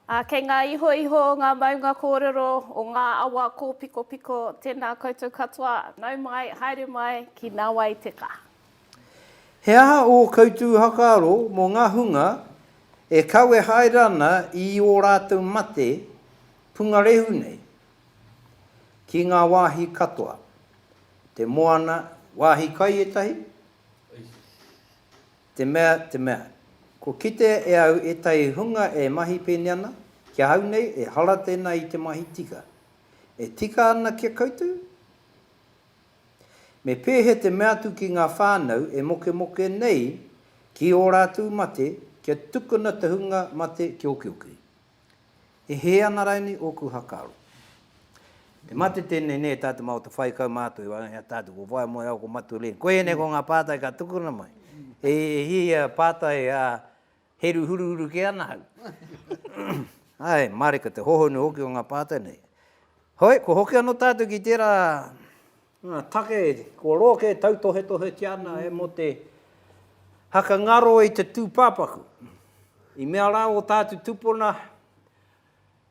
Ā, kei ngā ihoiho o ngā maunga kōrero, o ngā awa kōpikopiko, tēnā koutou katoa, nau mai, haere mai ki Nawai te ka. He aha ō koutou whakaaro mō ngā hunga e kawe haere ana i ō rātou mate pungarehu nei, Ki ngā wāhi katoa. Te moana, wāhi kai ētahi? Te mea, te mea. Kua kitea e au ētahi hunga e mahi pēnei ana, ki ahau nei, ehara tēnā i te mahi tika. E tika ana ki a koutou? Me pēhea te mea atu ki ngā whānau e mokemoke nei ki ō rātou mate kia tukuna te hunga mate ki okioki? E hē ana rainī ōku hakaaro. Te mate tēnei nē tātou mā o te whai kau mātou i waenga i a tātou ko wai moe au ko Matu Leen koia nei ko ngā pātai ka tukuna mai e hia pātai a heru huruhuru kē ana au ae māreka te hohonu hoki o ngā pātai nei hoi ko hoki anō tātou ki tērā Ngā take kua roa kē tautohetohetia ana e mō te haka ngaro i te tūpāpaku. I mea rā ō tātu tupuna,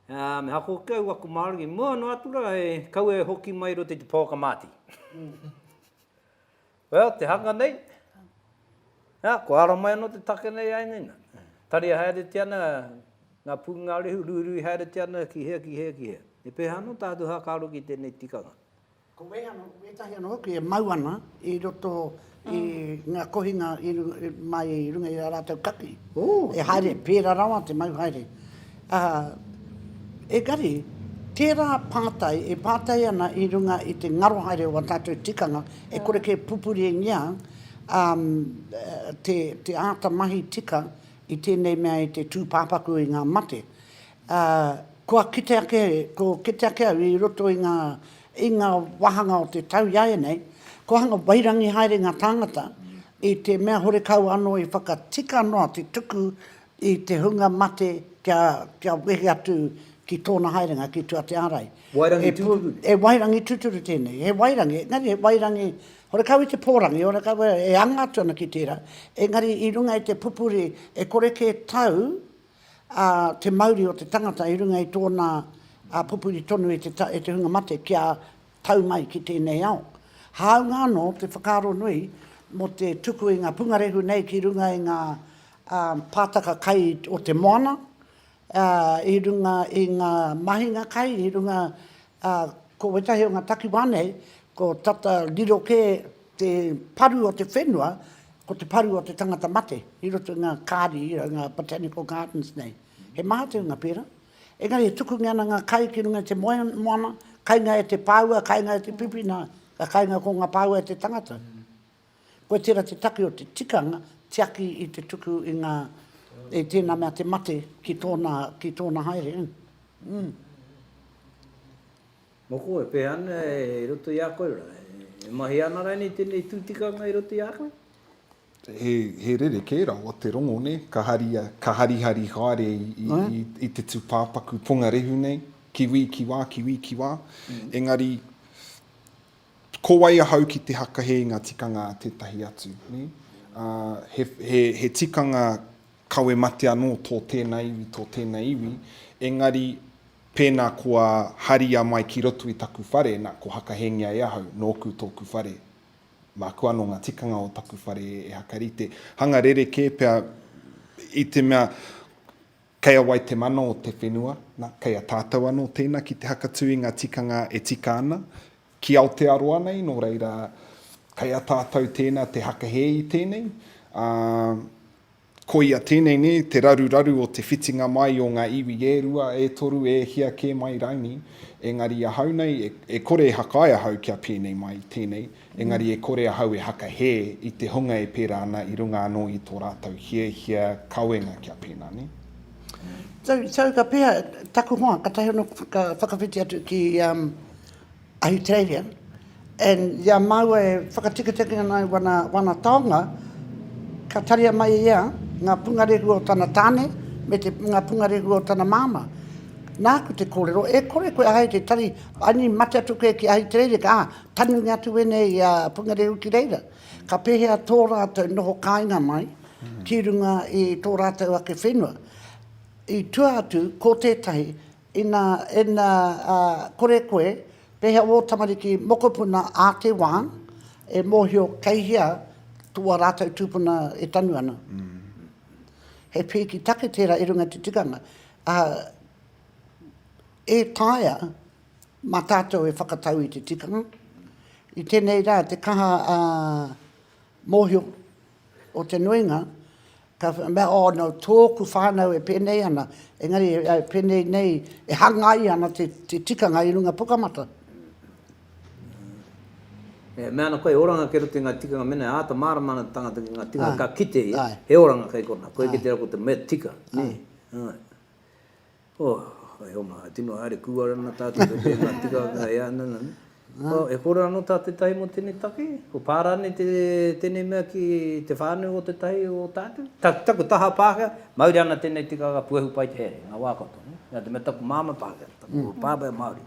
me haka hoki au aku Māori, i mua noa atu rā e kaua e hoki mai i roto i te pouaka māti. Well, te hanga nei, kua ara mai anō te take nei ai nei nā. Tari haeretia ana ngā pūngārehu, ruirui haeretia ana ki hea, ki hea, ki hea. He pēhea anō tātu haka aro ki tēnei tikanga? Ko wētahi anō hoki e mau ana i roto i ngā kohinga mai i runga i ā rātou kaki. E haere, pērā rawa te mau haere. Engari, tērā pātai e pātai ana i runga i te ngaro haere o ā tātou tikanga e kore kē pupuringia te āta mahi tika i tēnei mea i te tūpāpaku i ngā mate. Ā, kua kite ake, ko kite ake au i roto i ngā, i ngā wāhanga o te tau iāianei, kua hanga wairangi haere ngā tāngata i te mea horekau anō i whakatika noa te tuku i te hunga mate kia, kia wehi atu ki tōna haerenga ki tua te ārai. Wairangi tūturu? He wairangi tūturu tēnei. He wairangi, engari he wairangi horekau i te pōrangi, horekau e anga atu ana ki tērā, engari i runga i te pupuri e kore kē tau a te mauri o te tangata i runga i tōna pupuri tonu e te hunga mate kia tau mai ki tēnei ao. Hāunga anō te whakaaro nui mō te tuku i ngā pungarehu nei ki runga i ngā pātaka kai o te moana, i runga i ngā mahinga kai, i runga, ko wētahi o ngā takiwā nei, ko tata riro kē, Te paru o te whenua, ko te paru o te tangata mate, i roto i ngā kāri, ngā botanical gardens nei. He maha te hunga pērā. Engari e tukungia ana ngā kai ki runga i te moana, kainga e te pāua, kainga e te pipi, nā, ka kainga ko ngā pāua e te tangata. Koe tērā te take o te tikanga, tiaki i te tuku i ngā, i tēnā mea te mate ki tōna, ki tōna haere. Mm. Mō koe, e pēhea ana i roto i a koe rā? E mahi ana rānei tēnei tū tikanga i roto i a koe? He rerekē rawa te rongo, nē? Ka haria, ka harihari haere i te tūpāpaku pongarehu nei, ki wī, ki wā, ki wī, ki wā. Engari, ko wai ahau ki te hakahe i ngā tikanga a tētahi atu, nē? He tikanga kawe mate anō tō tēnā iwi, tō tēnei iwi, engari, Pēnā kua haria mai ki roto i taku whare, nā, ko Hakahengia e ahau, nōku tōku whare. Māku anō ngā tikanga o taku whare e hakarite. Hanga rerekē pea, i te mea, kei a wai te mana o te whenua, nā, kei a tātou anō tēnā ki te hakatū i ngā tikanga e tika ana, ki Aotearoa nei, nō reira, kei a tātou tēnā te hakahē i tēnei, ā, Koia tēnei nē te raruraru o te whitinga mai o ngā iwi e rua, e toru, e hia kē mai raini, engari ahau nei, e kore e hakae ahau kia pēnei mai tēnei, engari e kore ahau e hakahē i te hunga e pērā ana i runga anō i tō rātou hiahia kawenga kia pēnā nē. Tau, tau ka pēhea taku hoa, katahi anō ka whakawhiti atu ki Ahitereiria, and i a māua e whakatikitiki ana i wana, wana taonga, ka taria mai ia ngā pungarehu o tana tāne me te, ngā pungarehu o tana māmā. Nāku te kōrero, e kore koe ahei te tari, aini mate atu koe ki Ahitereiria, ka, ā, tangi atu wēnei i a pungarehu ki reira. Ka pēhea tō rātou noho kāinga mai ki runga i tō rātou ake whenua. I tua atu, ko tētahi, Ina, ina kore koe, pehea wō tamariki mokopuna ā te wā e mōhio kei hea tō ā rātou tūpuna e tanu ana? He pēki take tērā i runga i te tikanga, ā, e taea mā tātou e whakatau i te tikanga. I tēnei rā, te kaha mōhio o te nuinga, Ka mea, oh no, tōku whānau e pēnei ana, engari e pēnei nei, e hangai ana te tikanga i runga Pukamata. Ā. E mea ana koe, he oranga kei roto i ngā tikanga, mēnā e āta mārama ana te tangata ki ngā tikanga ka kite ia, he oranga kei konā, koe kei te rā ko te mea tika, nē. Āe. Oh, hai oma, hai tino haere kua rana tatou kei te nga tika nga e ana na ne. Oh, e kore ano ta tetahi mo tenei take, ko pa ranei te tenei mea ki te whanau o tetahi o tatou? Ta taku taha Pakea, mauri ana tenei tikaka puehu pai te here, nga wa katoa, ne. Na te mea taku mama Pakea, taku papa e Maori.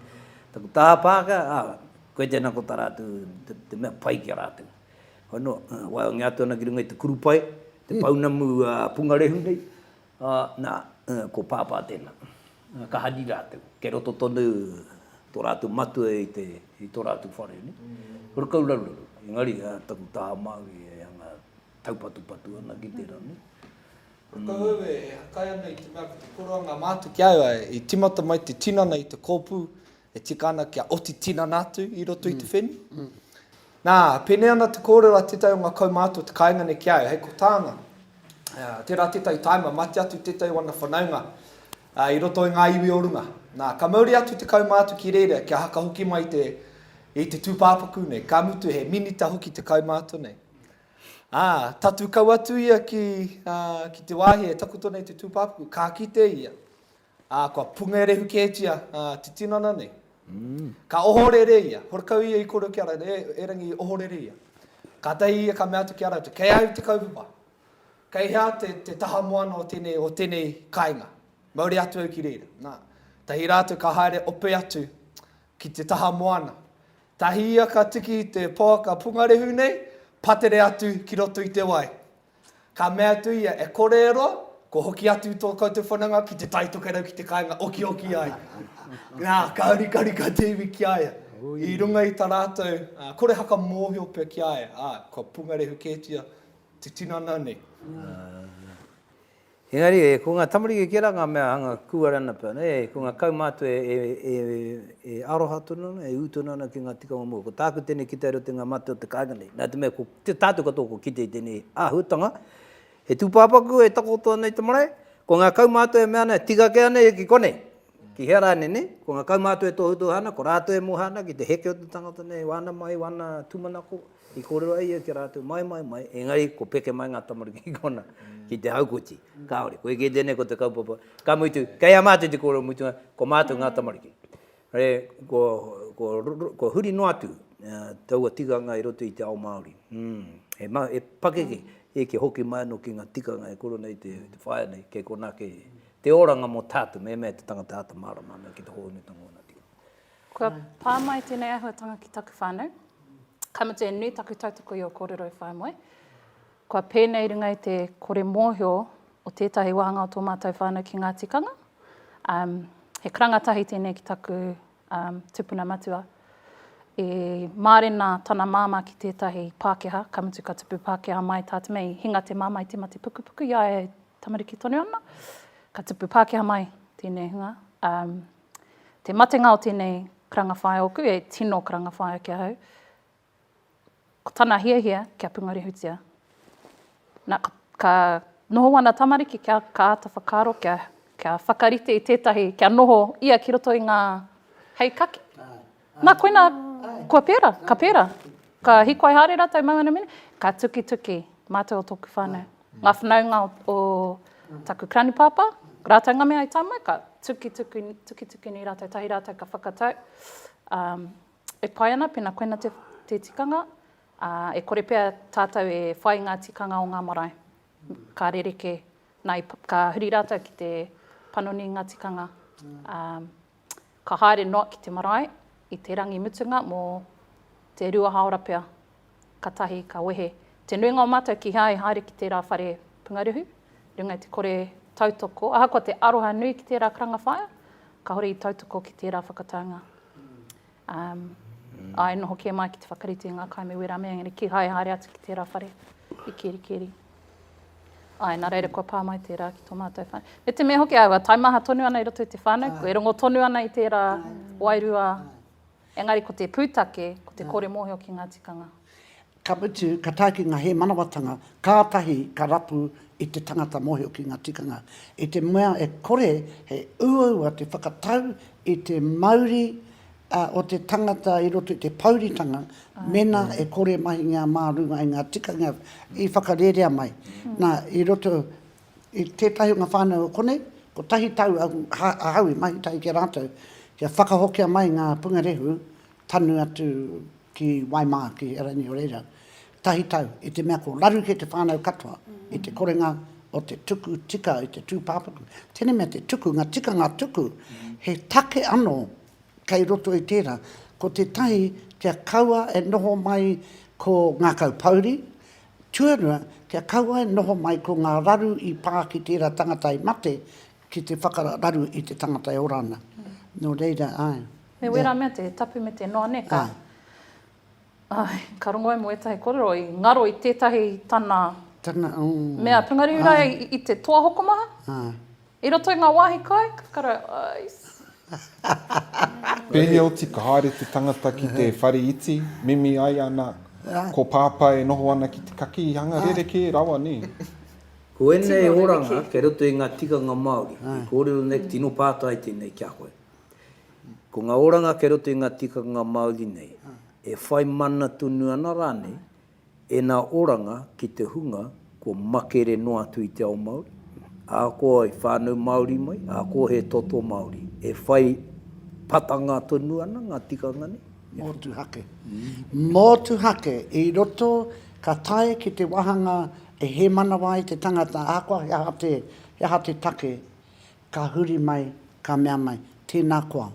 Taku taha Pakea, a, koe tena ko ta ratou te mea pai ki a ratou. Hoi no, waiongia atu ana ki runga i te kurupae, te pounamu pungarehu nei, Ā, nā, ko Pāpā tēnā. Ka hari rātou. Kei roto tonu tō rātou matua i te, i tō rātou whare, nē. Kura kau raruraru. Engari, ā, taku taha Māori e anga taupatupatu ana ki tērā, nē. Kua tau au e hakai ana i te mea ko te koroanga mātu ki a au, ā, i tīmata mai te tinana i te kōpū, e tika ana kia oti tinana atu i roto i te whenua. Nā, pēnei ana te kōrero a tētahi o ngā kaumātua o te kāinga nei ki a au, hei ko tāna, tērā tētahi taima mate atu tētahi o ana whanaunga i roto i ngā iwi o runga. Nā, ka mauri atu te kaumātua ki reira kia haka hoki mai te, i te tūpāpaku nei, ka mutu he minita hoki te kaumātua nei. Ā, tatū kau atu ia ki, ki te wāhi e takoto nei te tūpāpaku, ka kite ia. Ā, kua pungerehu kētia te tinana nei. Ka ohorere ia, horekau ia i koro ki a rātou, E, erangi, ohorere ia. Kātahi ia ka mea atu ki a rātou, Kei a au te kaupapa. Kei hea te, te taha moana o tēnei, o tēnei kāinga? Mauri atu au ki reira. Nā, tahi rātou ka haere ope atu ki te taha moana. Tahi ia ka tiki i te pouaka pungarehu nei, patere atu ki roto i te wai. Ka mea atu ia, E kore e roa, kua hoki atu tō koutou whananga ki te tai tokerau ki te kāinga okioki ai. Nā, ka rikari ka te iwi ki a ia. I runga i tā rātou kore haka mōhio pea ki a ia, ā, kua pungarehu kētia te tinana nei. Engari, e, ko ngā tamariki kē rā ngā mea hanga kūare ana pea, nē, ko ngā kaumātua e, e, e, e aroha tonu ana, e ū tonu ana ki ngā tikanga mua. Ko tāku tēnei kite areo te ngā mate o te kāinga nei. Nā te mea, ko te tātou katoa kua kite i tēnei āhuatanga, he tūpāpaku e takoto ana i te marae, ko ngā kaumātua e mea ana, tika kē ana ia ki konei. Ki hea rānei nei, ko ngā kaumātua e tohutohu ana, ko rātou e moha ana ki te heke o te tangata nei, wāna mai, wāna tūmanako, i kōrero ai ia ki a rātou, mai, mai, mai, engari ko peke mai ngā tamariki ki konā, ki te haukoti. Kāore, koe kē tēnei ko te kaupapa. Ka mutu, kei a mātou te kōrero mutunga, ko mātou ngā tamariki. Re, ko, ko, ko huri noa atu taua tikanga i roto i te ao Māori. Mm. He, ma, he pakeke, e kia hoki mai anō ki ngā tikanga e koro nei te, te whaea nei, kei konā, kei, Te oranga mo tatu me mea te tangata ata marama me ki te hoonutanga ona tino. Kua pa mai tenei ahuatanga ki taku whanau. Ka mutu e nui taku tautoko i o korero e whae moe. Kua penei runga i te kore mohio o tetahi wahanga o to matou whanau ki nga tikanga. Um, he karanga tahi tenei ki taku um, tupuna matua. E marena tana mama ki tetahi Pakeha, ka mutu ka tupu Pakeha mai ta te mei, hinga te mama i te mate pukupuku, ia e tamariki tonu ana, ka tupu Pākehā mai tēnei hunga. Um, te matenga o tēnei karanga whaea oku, e tino karanga whaea ki ahau, ko tana hiahia kia pungarihutia. Na, ka, ka noho ana tamariki kia ka āta whakaaro, kia, kia whakarite i tētahi, kia noho ia ki roto i ngā hei kaki. Na koina, kua pera, ka pera. Ka hikoai haere ratou mau ana mene, ka tukituki matou o toku whanau. Nga whanaunga o taku granipapa, ratou nga mea i ta mai, ka tukituki nei ratou, tahi ratou ka whakatau, e pai ana pena koina te tikanga, a e kore pea tatou e whai nga tikanga o nga marae. Ka rereke, na, ka huri ratou ki te panoni i nga tikanga. Ka haere noa ki te marae i te rangi mutunga mo te rua haora pea katahi ka wehe te nuinga o matou kihea e haere ki tera whare pungaruhu runga i te kore tautoko ahakoa te aroha nui ki tera karanga whaea kahore i tautoko ki tera whakataunga Ā, e noho kē mai ki te whakarite i ngā kai me wērā mea, engari kīhai haere atu ki tērā whare i Kerikeri. Āe, nā reira kua pā mai tērā ki tō mātou whānau. Me te mea hoki aua taimaha tonu ana i roto i te whānau, e rongo tonu ana i tērā wairua, engari ko te pūtake, ko te kore mōhio ki ngā tikanga. Ka mutu, ka tae ki ngā hēmanawatanga, kātahi ka rapu i te tangata mōhio ki ngā tikanga. I te mea e kore he uaua te whakatau i te mauri o te tangata i roto i te pouritanga, mēnā e kore mahingia mā runga i ngā tikanga i whakarērea mai. Nā, i roto i tētahi o ngā whānau o konei, kotahi tau ahau i mahi tahi ki a rātou, kia whakahokia mai ngā pungarehu tanu atu ki Waimāa, ki Erangi o reira, tahi tau, i te mea ko raru kē te whānau katoa i te korenga o te tuku tika i te tūpāpaku. Tēnei mea te tuku, ngā tikanga tuku, he take anō kei roto i tērā, ko tētahi kia kaua e noho mai ko ngā kaupouri, tuarua, kia kaua e noho mai ko ngā raru i pā ki tērā tangata i mate, Ki te whakararu i te tangata e ora ana. Nō reira, āe. Me wērā mea te tapu me te noa, nē, ka. Āe. Āe, ka rongo ai mō ētahi kōrero i ngaro i tētahi tana. Tana, ō. Mea pūngariu rā i te toa hokomaha. Āe. I roto i ngā wāhi kai, ka kara, āe. Pēhea oti ka haere te tangata ki te whare iti, mimi ai ana ko Pāpā e noho ana ki te kakī, hanga rerekē rawa, nē. Ko ēnei oranga kei roto i ngā tikanga Māori i kōrero nei, tino pātai tēnei ki a koe. Ko ngā oranga kei roto i ngā tikanga Māori nei, e whai mana tonu ana rānei ēnā oranga ki te hunga kua makere noa atu i te ao Māori, ahakoa i whānau Māori mai, ahakoa he toto Māori. E whai patanga tonu ana ngā tikanga nei. Motuhake. Motuhake i roto ka tae ki te wāhanga E hē manawa ai te tangata, ahakoa he aha te, he aha te take, ka huri mai, ka mea mai, tēnā koa,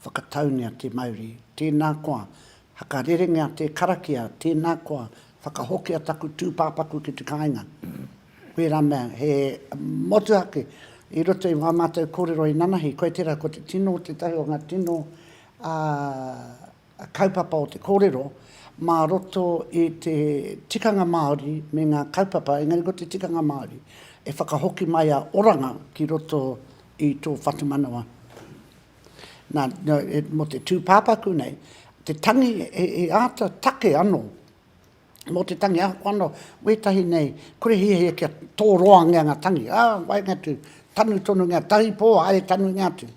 whakataungia te mauri, tēnā koa, hakarerengia te karakia, tēnā koa, whakahokia taku tūpāpaku ki te kāinga. Wērā mea, he motuhake i roto i wā mātou kōrero inanahi, koe tērā, ko te tino, tētahi o ngā tino, ā, kaupapa o te kōrero mā roto i te tikanga Māori me ngā kaupapa, engari ko te tikanga Māori e whakahoki mai a Oranga ki roto i tō whatumanawa. Nā, mō te tūpāpaku nei, te tangi he āta take anō mō te tangi ako anō, wētahi nei, kore hiahia kia tōroangia ngā tangi, ā, waenga atu, tanu tonungia, tahi pō, haere tanungia atu.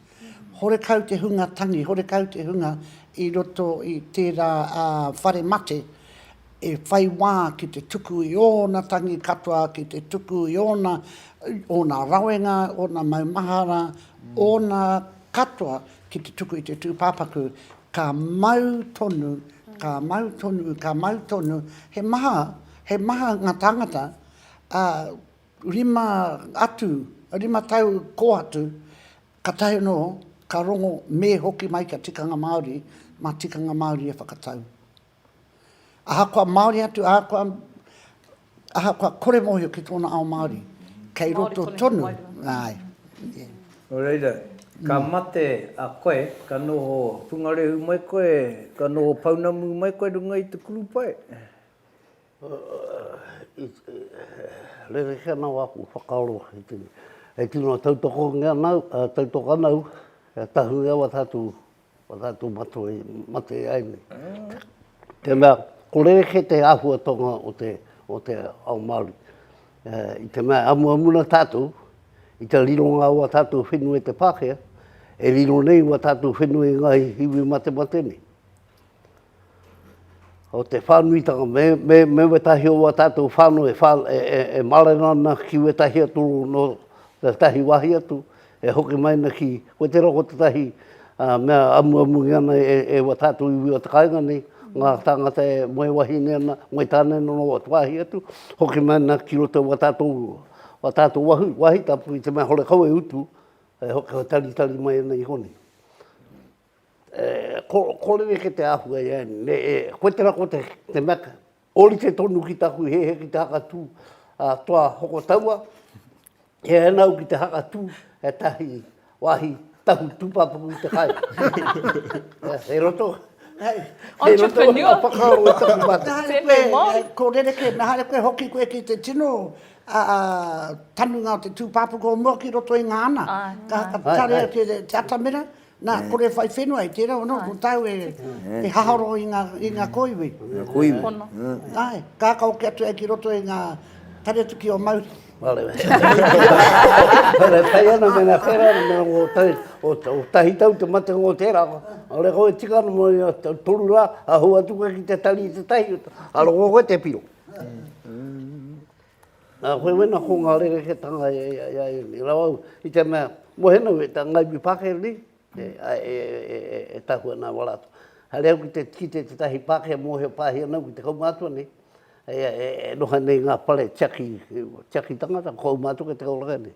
Horekau te hunga tangi, horekau te hunga i roto i tērā whare mate e whai wā ki te tuku i ōna tangi katoa, ki te tuku i ōna, ōna rawenga, ōna maumahara, ōna katoa ki te tuku i te tūpāpaku Ka mau tonu, ka mau tonu, ka mau tonu, he maha, he maha nga tangata, a, rima atu, rima tau ko atu, ka tahi ano, ka rongo, me hoki mai kia tikanga Maori, ma tikanga Maori e whakatau. Ahakoa Māori atu, ahakoa, ahakoa kore mōhio ki tōna ao Māori, kei roto tonu, āe, ē. Nō reira, ka mate a koe, ka noho pungarehu mai koe, ka noho pounamu mai koe runga i te kurupae. Rerekē ana wāku whakaaro i te, e tino tautokongia ana au, tautoka ana au, kia tahuri au a tātou. Whakaatu matua i mate ai nei. Tēnā, ko rerekē te āhuatanga o te ao Māori. I te mea, amuamu na tātou, i te rironga o a tātou whenua i te Pākehā, e riro nei ua tātou whenua i ngā iwi matemate nei. o te whānuitanga, me wētahi o wā tātou whānau e mārena ana ki wētahi atu nō tētahi wāhi atu, e hoki mai ana ki, ko te roa ko tētahi mea amuamu i ana e wā tātou iwi o te kāinga nei, ngā tāngata e moe wahine ana, moe tāne ana nō atu wāhi atu, hoki mai ana ki roto wā tātou, wā tātou wāhi tapu i te mea hore kau e utu, e hoki taritari mai ana i konei. Ko, ko rere ke te ahua e Anne. Me, e, koe tera ko te, te meka. Orite tonu ki taku he he ki te haka tū. A, toa hoko taua, he anau ki te haka tū, he tahi, wahi, tahu tūpapaku i te kai. he roto. Hei, hei roto o ngā whakaaro e taku mata. Nahare koe, ko rere ke, nahare koe hoki koe ki te tino, a, a, tanunga o te tūpapaku o mua ki roto i ngā ana. Ka, ka tarea ki te atamira. Na, kore e whai whenua i tera ono, ko tau e haharo i nga, i nga koiwi. Nga koiwi. Pono. Ae, kakao ke atu au ki roto i nga tare atu ki o mauri. Vale. Vale, e pai ana me nga whera, me nga o tahi, o tahi tau te mate o tera. Vale, koe e tika ana mo i a toru ra, a hua atu koe ki te tari i te tahi, aro ko koe te piro. Nā, koe wena ko ngā rerekētanga e, e, e, e rau au, i te mea, mohenau e tā Ngāi Wi Pākehā nei, e, a, e, e, e, e, e tahua nā wā rātou. Haere au ki te, ki te tētahi Pākehā mōhio pāhi ana au ki te kaumātua nei, e, e, e, e noho nei ngā whare tiaki, tiaki tangata, ko au mātou kei te kauraka nei.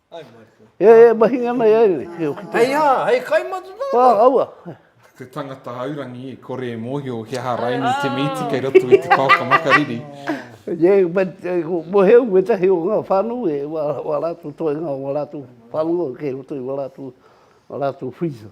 E, e, mahi ngā mai ai nei. Hei a, hei kai matu nā. Wā, aua. Te tangata haurangi e kore e mōhio ki aha raini te mīti kei roto i te pāka makariri. Ie, but mo heu me tahi o ngā whānu e wā rātu toi ngā wā rātu whānu o kei roto i wā rātu, wā rātu whiza.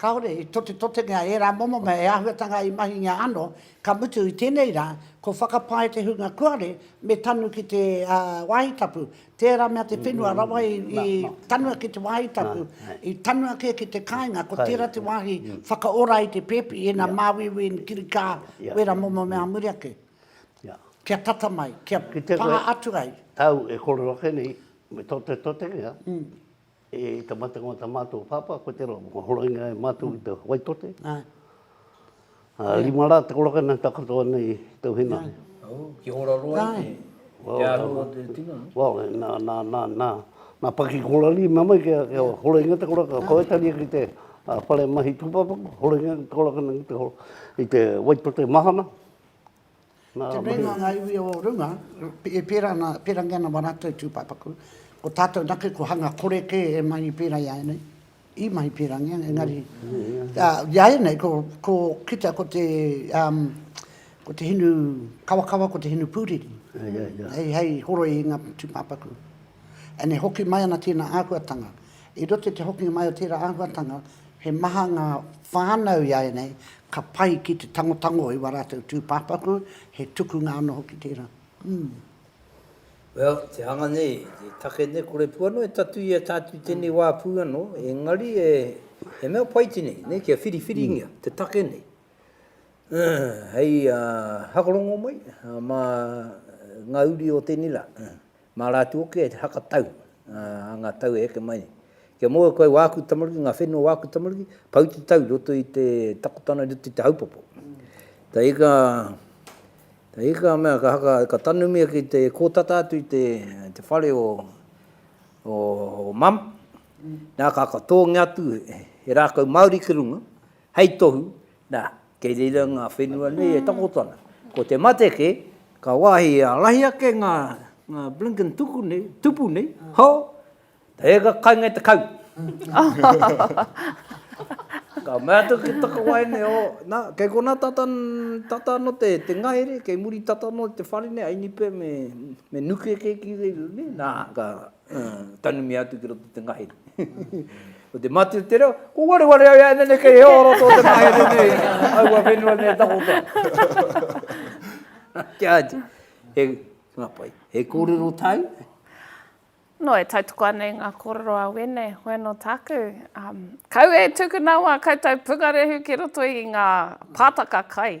Kāore i totetotengia ērā momo mea e āhuatanga i mahingia anō, ka mutu i tēnei rā, ko whakapae te hunga kuare me tanu ki te wāhi tapu. Tērā mea te whenua rawa i tanua ki te wāhi tapu, i tanua kē ki te kāinga, ko tērā te wāhi whakaora i te pēpi, ina māuiui, ina kirikā, wērā momo mea ā muri ake. Kia tata mai, kia pā atu ai. Au e kore ake nei, me totetotengia. E tamatanga o ta matou papa ko te roa mo horoina e matou i te Waitote. A rima ra te koraka na takoto ana i tou henare. Oh, ki hora roa i te aro o te tino. Well, na, na, na, na, na paki korari me mai kia, kia horoina te koraka. Ko Etaria ki te whare mahi tupapaku, horoina te koraka na ki te, i te Waitote mahana. Te mea nā ngā iwi o runga, e pērā ana, pērangi ana wā rātou tūpāpaku, ko tātou anake ko hanga kore kē e mahi pērā i a ēnei, i mahi pērangia, engari, i a ēnei, ko, ko, kitea ko te, ko te hinu kawakawa, ko te hinu pūriri, hei, hei horoi i ngā tūpāpaku. And e hoki mai ana tēnā āhuatanga, I roto i te hokinga mai o tērā āhuatanga, he maha ngā whānau ināianei ka pai ki te tangotango i wā rātou tūpāpaku, he tukunga anō hoki tērā. Umm. Well, te hanga nei, te take nei, kore pū anō e tatuia tātou i tēnei wā pū anō, engari e, he mea pai tēnei, nē, kia whiriwhiringia te take nei. Hei hakorongo mai mā ngā uri o tēnei rā. Mā rātou hoki e whakatau, ā, ā ngā tau e heke mai nei. Kia mōhio koe wā aku tamariki, ngā whenua o wā aku tamariki, pau te tau i roto i te takotana, i roto i te haupopo. Ka hika, ka hika a mea, ka haka, ka tanumia ki te kōtata atu i te, te whare o, o, o mum, nā ka, ka tōngia atu he rākau Māori ki runga, Hei tohu, nā, kei reira ngā whenua nei e takoto ana. Ko te mate kē, ka wāhi he ārahi ake ngā blinkin tuku nei, tupu nei, hō! He eka kainga i te kau! Ka mea atu ki Takawaene, ō, nā, kei konā tata, tata anō te, te ngahere, kei muri tata anō te whare nei, a Inipe me, me Nuke kē ki reira nei, nā, ka, Tanumia atu ki roto te ngahere. Ko te mati o te reo, ko ware ware au ea nene kei heo roto o te ngahere nei, au a whenua nei takoto. Kia ati, he ngapai, he kōrero tāu? No, e tautoko ana i ngā kōrero a Wene, wena o tāku. Um, kau e tuku nā wā koutou pungarehu ki roto i ngā pātaka kai.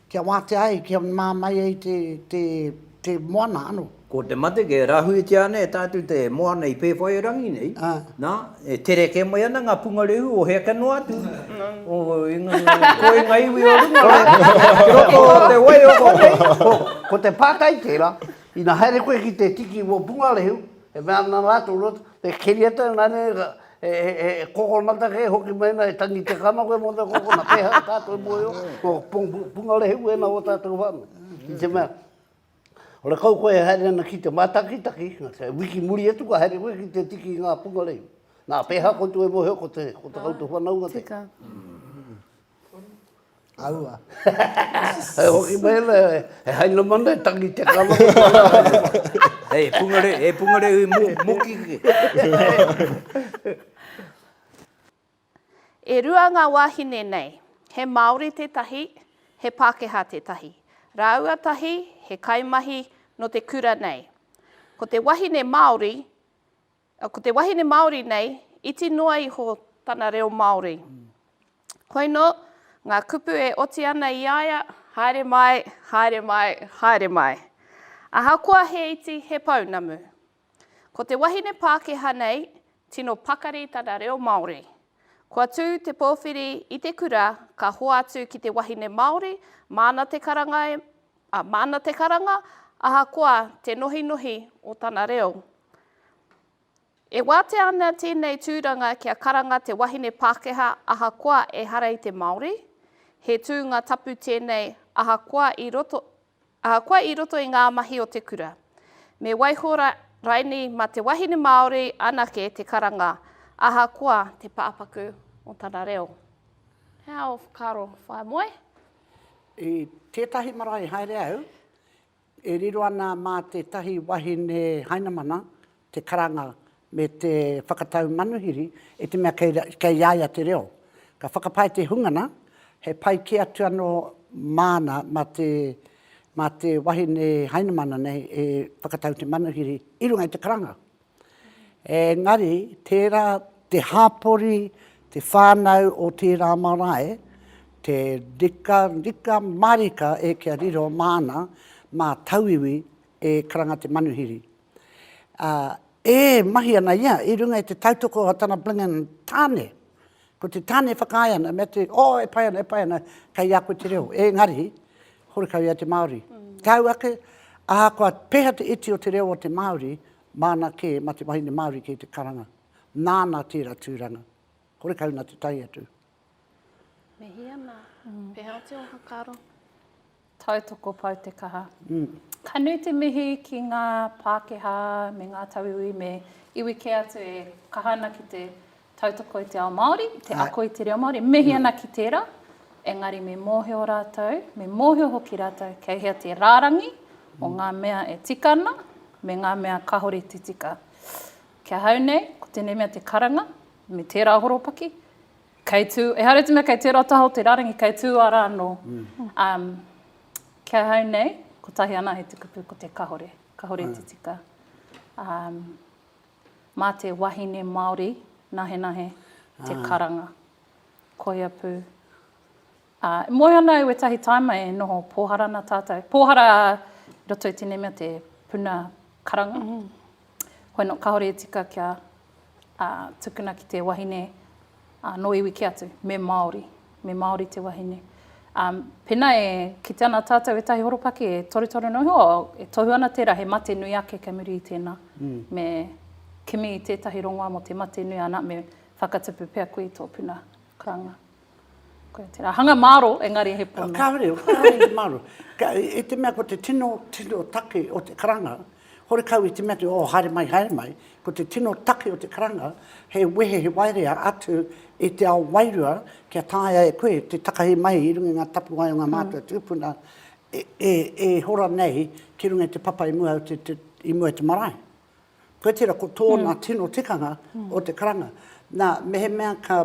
Kia wātea ai, kia mā mai ai te, te, te moana ano. Ko te mate kia rahuitia ana e tātou te moana i Pēwhairangi nei, nā, e tere kē mai ana ngā pungarehu o hea ka noa atu, o ko i ngā iwi o runga rā, ki roto o te waiora nei. Ko te pātai tērā, ina haere koe ki te tiki o pungarehu, e mea ana rātou, he keria tau, nā reira, He kokonata kē hoki mēnā e tangi te kano koe mō te kokonata, pēhea tātou e mōhio, ko Pungarehe wēnā o tātou whānau. I te mea, ora kau koe e haere ana ki te mātakitaki, wiki muri atu ka haere koe ki te tiki i ngā Pungarehe. Nā, pēhea koutou e mōhio ko te koutou whanaunga tēnā. Tika. Aua. Hei hoki mai la, he haina mana e tangi te kala. Hei, pungare, e pungare hui mo, moki ki. E rua ngā wāhine nei, he Māori tētahi, he Pākehā tētahi. Rāua tahi, he kaimahi nō te kura nei. Ko te wahine Māori, Ko te wahine Māori nei, iti noa iho tana reo Māori. Koinō ngā kupu e oti ana i a ia, Haere mai, haere mai, haere mai. Ahakoa he iti, he pounamu. Ko te wahine Pākehā nei, tino pakari tana reo Māori. Kua tū te pōwhiri i te kura ka hoatu ki te wahine Māori, māna te karanga, māna te karanga, ahakoa te nohinohi o tana reo. E wātea ana tēnei tūranga kia karanga te wahine Pākehā ahakoa ehara i te Māori, he tūnga tapu tēnei ahakoa i roto, ahakoa i roto i ngā mahi o te kura. Me waiho raini mā te wahine Māori anake te karanga, ahakoa te pāpaku o tana reo. He aha ō whakaaro, whaea moe? I tētahi marae haere au, E riro ana mā tētahi wahine Hainamana te karanga me te whakatau manuhiri i te mea kei a ia te reo. Ka whakapae te hungana, he pai kē atu anō māna mā te wahine Hainamana nei e whakatau te manuhiri i runga i te karanga. Engari, tērā te hapori, te whānau o tērā marae, te rika, rika marika e kia riro māna, mā tauiwi e karanga te manuhiri. Ā, e mahi ana ia i runga i te tautoko o tana Blingan tāne, Ko te tane whakaae ana, mea te, oh, e pai ana, e pai ana, kei a koe te reo. Engari, horekau ia te Māori. Tau ake, ahakoa peha te iti o te reo o te Māori, māna kē, mā te wahine Māori kē te karanga. Nāna tērā tūranga. Horekau nā te tae atu. Mihi ana. Pēhea te ō whakaaro? Tautoko Pou te kaha. Ka nui te mihi ki ngā Pākehā me ngā tauiwi me iwi kē atu e kaha ana ki te tautoko i te ao Māori, te ako i te reo Māori, e mihi ana ki tērā, engari me mōhio rātou, me mōhio hoki rātou kei hea te rārangi o ngā mea e tika ana me ngā mea kāore i te tika. Ki ahau nei, ko tēnei mea te karanga me tērā horopaki, Kei tū, ehara i te mea kei tērā taha o te rārangi, kei tū ara anō. Um, ki ahau nei, kotahi ana he te kupu ko te kahore, kahore te tika. Um, mā te wahine Māori, nahenahe, te karanga. Koia pū. Ā, e moe ana au ētahi tāima e noho pōhara ana tātou. Pōhara i roto i tēnei mea te puna karanga. Koe nō kāore e tika kia ā, tukuna ki te wahine ā, nō iwi kē atu, me Māori, me Māori te wahine. Ā, pēnā e kite ana tātou ētahi horopaki e torutoru noa iho, e tohu ana tērā he mate nui ake kei muri i tēnā. Me kimi i tētahi rongoā mō te mate nui, anā, me whakatupu pea koe i tō puna karanga. Koia tērā. Hanga māro, engari he pono. Kāore, kāore i te māro. I te mea ko te tino, tino take o te karanga, horekau i te mea te, oh, haere mai, haere mai, ko te tino take o te karanga, he wehe, he waerea atu i te ao wairua kia taea e koe te takahi mai i runga i ngā tapuwae o ngā mātua tūpuna e, e, e hora nei ki runga i te papa i mua, i mua i te marae. Koe tera ko tōna mm. tino tikanga mm. o te karanga. Nā, mehemea ka,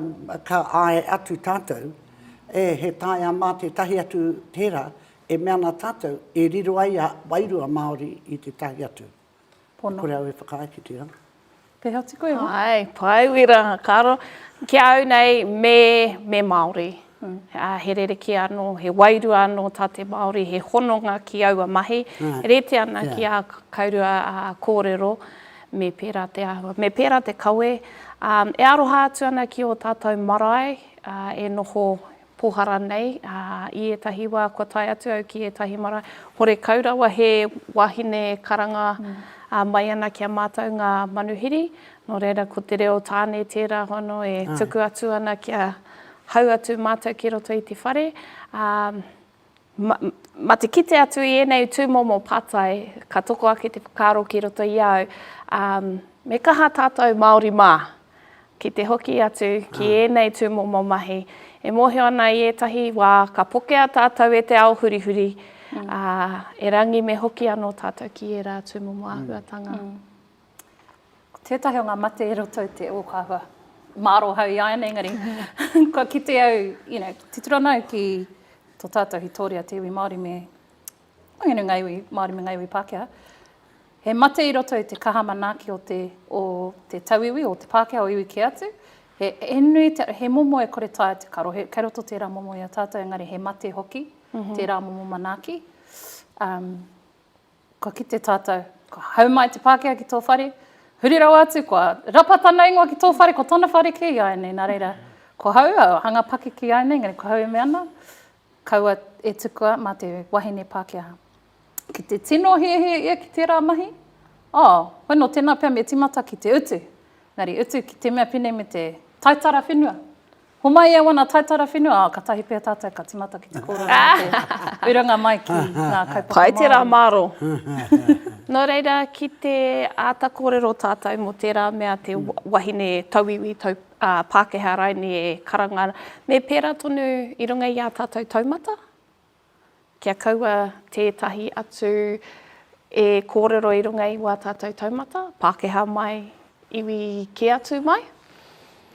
ka āe atu tātou, e he taia mā tētahi atu tērā, e mea nā tātou, e riro ai a wairua Māori i te tahi atu. Pono. Kore au e whakaae ki te ranga. Te hati koe, ha? Hai, pai wira, karo. Ki au nei, me, me Māori. Ā, he rerekē anō, he wairua anō tā te Māori, he hononga ki aua mahi, e rite ana ki ā kaurua kōrero, me pērā te āhua, me pērā te kawe. Ā, e aroha atu ana ki ō tātou marae e noho pōhara nei, ā, i ētahi wā kua tae atu au ki ētahi marae, horekau rawa he wāhine e karanga mai ana ki a mātou ngā manuhiri, nō reira ko te reo tāne tērā hono e tuku atu ana ki a. Hau atu mātou ki roto i te whare, ā, ma, ma te kite atu i ēnei tūmomo pātai, ka toko ake te whakaaro ki roto i au, ā, me kaha tātou Māori mā, ki te hoki atu ki ēnei tūmomo mahi. E mōhio ana i ētahi wā, ka pokea tātou e te ao hurihuri, ā, erangi me hoki anō tātou ki ērā tūmomo āhuatanga. Tētahi o ngā mate e roto i te ōkawa. Māro hau i a ēnei, engari kua kite au, you know, titiro ana au ki tō tātou Hitoria, te iwi Māori me waenganui ngā iwi Māori me ngā iwi Pākehā. He mate i roto i te kaha manaaki o te, o te tauiwi, o te Pākehā, o iwi kē atu. He, he nui, te, he momo e kore tae te karo. He, kei roto tērā momo i a tātou, engari he mate hoki, mm -hmm. tērā momo manaaki. Um, Kua kite tātou, kua hau mai te Pākehā ki tō whare, huri rawa atu, kua rapa tana ingoa ki tō whare, ko tana whare kē iāianei, nā reira, ko hau, hanga pakeke iāianei, engari ko hau e mea ana, kaua e tukua mā te wahine Pākehā. Ki te tino hiahia ia ki tērā mahi, oh, hoi nō tēnā pea me tīmata ki te utu, engari utu ki te mea pēnei me te taitara whenua, Homai e wana taitara whenua, a, katahi pea tatou ka timata ki te korona o te urunga mai ki nga kaupapa Maori. Pai tera maro. No reira, ki te ata korero tatou mo tera mea te wahine tauiwi, tau, a, Pakeha raine e karanga, me pera tonu i runga i a tatou taumata, kia kaua tētahi atu e kōrero i runga i wā tātou taumata, Pākehā mai, iwi kē atu mai.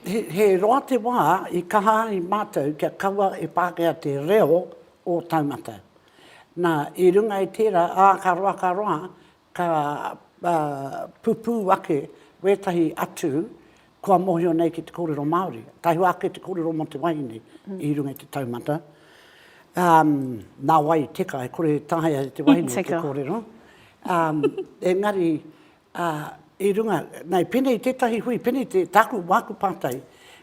He roa te wā i kaha ai mātou kia kaua e Pākehā te reo o taumata. Nā, i runga i tērā, ā, ka roa, ka roa, Ka pupū ake wētahi atu kua mōhio nei ki te kōrero Māori. Tahua ake te kōrero mō te wahine i runga i te taumata. Nā wai, teka, e kore e taea e te wahine te kōrero. Engari, i runga, nei, pēnei i tētahi hui, pēnei te, tāku, māku pātai,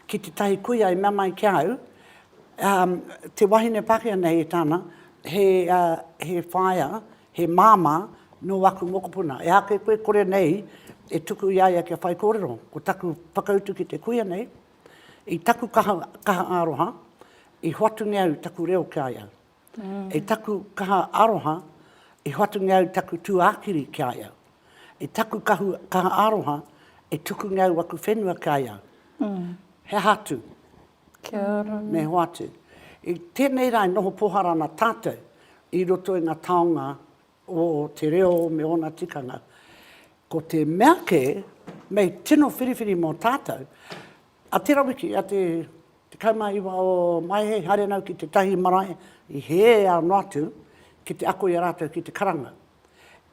ki tētahi kuia i mea mai ki a au, te wahine Pākehā nei e tāna, he whaea, He māmā nō aku mokopuna. Ehake koe kore nei e tuku i a ia kia whaikōrero. Ko taku whakautu ki te kuia nei, i taku kaha, kaha aroha, i hoatu nei au taku reo ki a ia. I taku kaha aroha, i hoatu nei au taku tūākiri ki a ia. I taku kahu, kaha aroha, i tuku nei au aku whenua ki a ia. He aha atu? Kia ora. Me hoatu. I tenei ra e noho pohara ana tatou i roto i nga taonga o te reo me ona tikanga. Ko te mea ke, mei tino whiriwhiri mo tatou, a tera wiki, a te 19 o Maehe, haere nau ki tetahi marae i he ao noa atu ki te ako i a ratou ki te karanga.